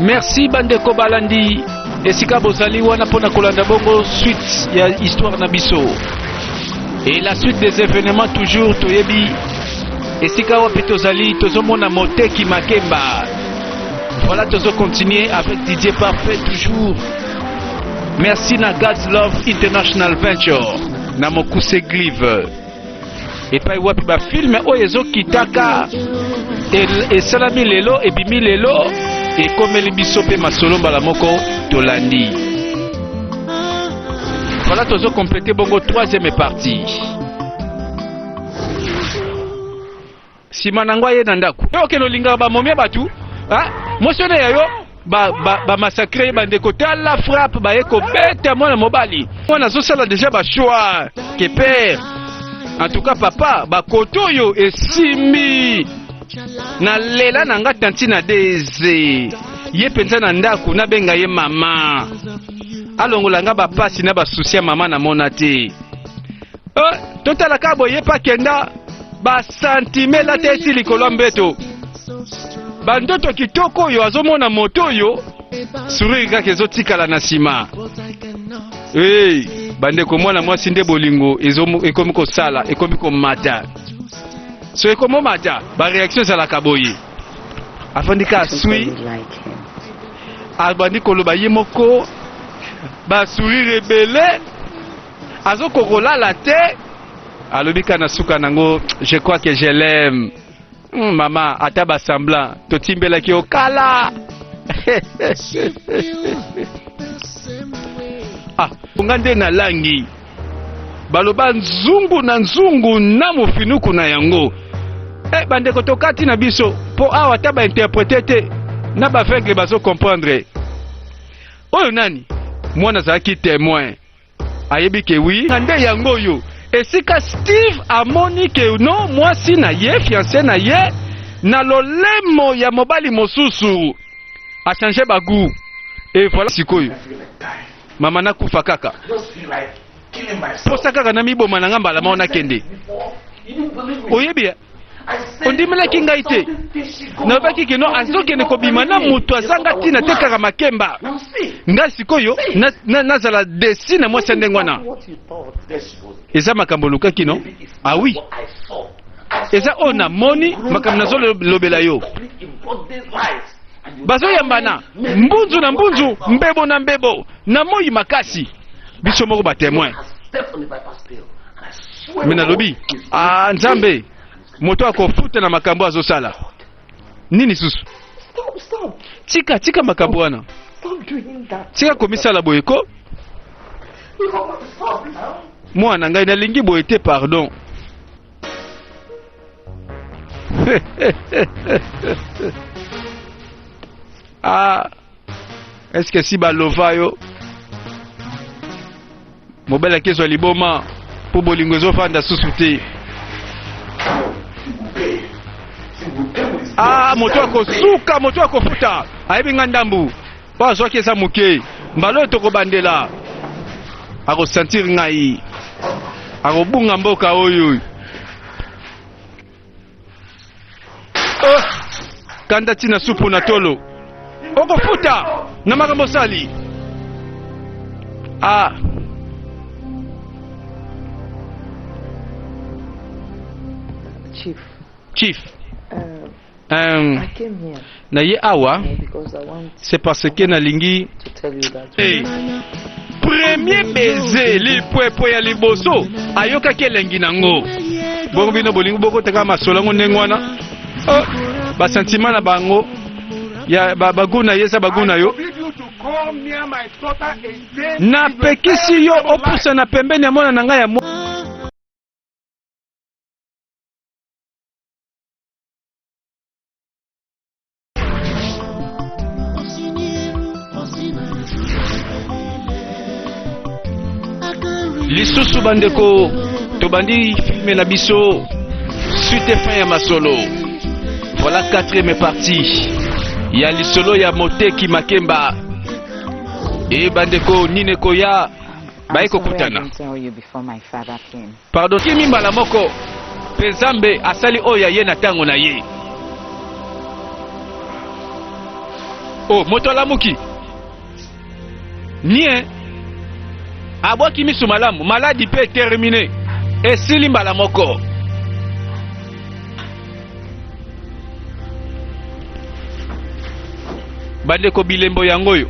merci bandeko balandi esika bozali wana mpo na kolanda bongo suite ya histoire na biso et la suite des événements toujours toyebi esika wapi tozali tozomona moteki makemba voilà tozo continuer avec didier parfait toujours Merci na God's Love International Venture na mokuse glive epai wapi bafilme oyo ezokitaka esalami lelo ebimi lelo ekomeli biso mpe masolo mbala moko tolandi wana tozokomplete bongo troisième partie Sima nango aye na ndako. Yo okende olingaka ba momia batu, ah, mwasi wana ya yo ba ba ba massacre ye bandeko tala frappe baye kobeta mwana mobali. Mwana azosala deja ba choix que père. En tout cas papa, ba koto yo esimbi. Na lela na nga tanti na deze. Ye penza na ndako na benga ye mama. Alongola nga ba pasi na ba souci ya mama na mona te. Eh, totala ka boye pa kenda basantimela te esi likolo ya mbeto bandoto kitoko oyo azomona moto oyo suriri kaka ezotikala na nsima hey, bandeko mwana mwasi nde bolingo ekomi kosala ekomi komata so ekomi omata bareaktio ezalaka boye afandi ka aswi abandi koloba ye moko basurire ebele azo ko kolala te alobi ka na suka nango je crois que je l'aime hmm, mama ata ba semblant totimbelaki yo kala ah nga nde na langi baloba nzungu na nzungu na mofinuku na yango e bandeko tokati na biso mpo awa ata bainterprete te na baveugle bazokomprendre oyo nani mwana azalaki temoin ayebi ke wi na nde yango oyo esika Steve amoni ke no mwasi na ye fiance na ye na lolemo ya mobali mosusu achange bagu e voilà sikoyo mama nakufa kaka posa kaka namiboma na nga mbala moko nakende oyebi ondimelaki ngai te nalobaki keno azokende kobima na moto azanga ntina te kaka makemba ngai sikoyo nazala na, na desi na mwasi ya ndenge wana eza makambo olukaki no awi ah eza oyo namoni makambo nazolobela yo bazoyambana mbunzu na mbunzu mbebo na mbebo na moi makasi biso moko batemoin me nalobi ah, nzambe moto akofuta na makambo azosala nini susu tika tika makambo wana tika komisala boye ko mwana ngai nalingi boye te pardon ah eske si balova yo mobali akezwa liboma mpo bolingo ezofanda susu te ah moto akosuka moto akofuta ayebi nga ndambu mpo azwaki eza moke mbala oyo tokobandela akosentire ngai akobunga mboka oyo Oh, kanda tina supu na tolo okofuta na makambo osali ah. chief chief um, um, na ye awa c'est parce que nalingi hey. premier baiser lipwepwe ya liboso ayokaki elengi nango bongo bino bolingi bokotaka masolo yango ndenge wana oh, basentima na bango ya bagu na ye eza bagu na yo napekisi yo opusa na pembeni ya mwana na ngai ya lisusu bandeko tobandi filme na biso suite fin ya masolo voilà quatrième partie ya lisolo ya moteki makemba e bandeko nini ekoya baye kokutana Pardon kimi mbala moko mpe Nzambe asali oyo ya ye na ntango na ye. O oh, moto alamuki nie abwaki miso malamu, maladi mpe termine, esili mbala moko. Bandeko, bilembo yango oyo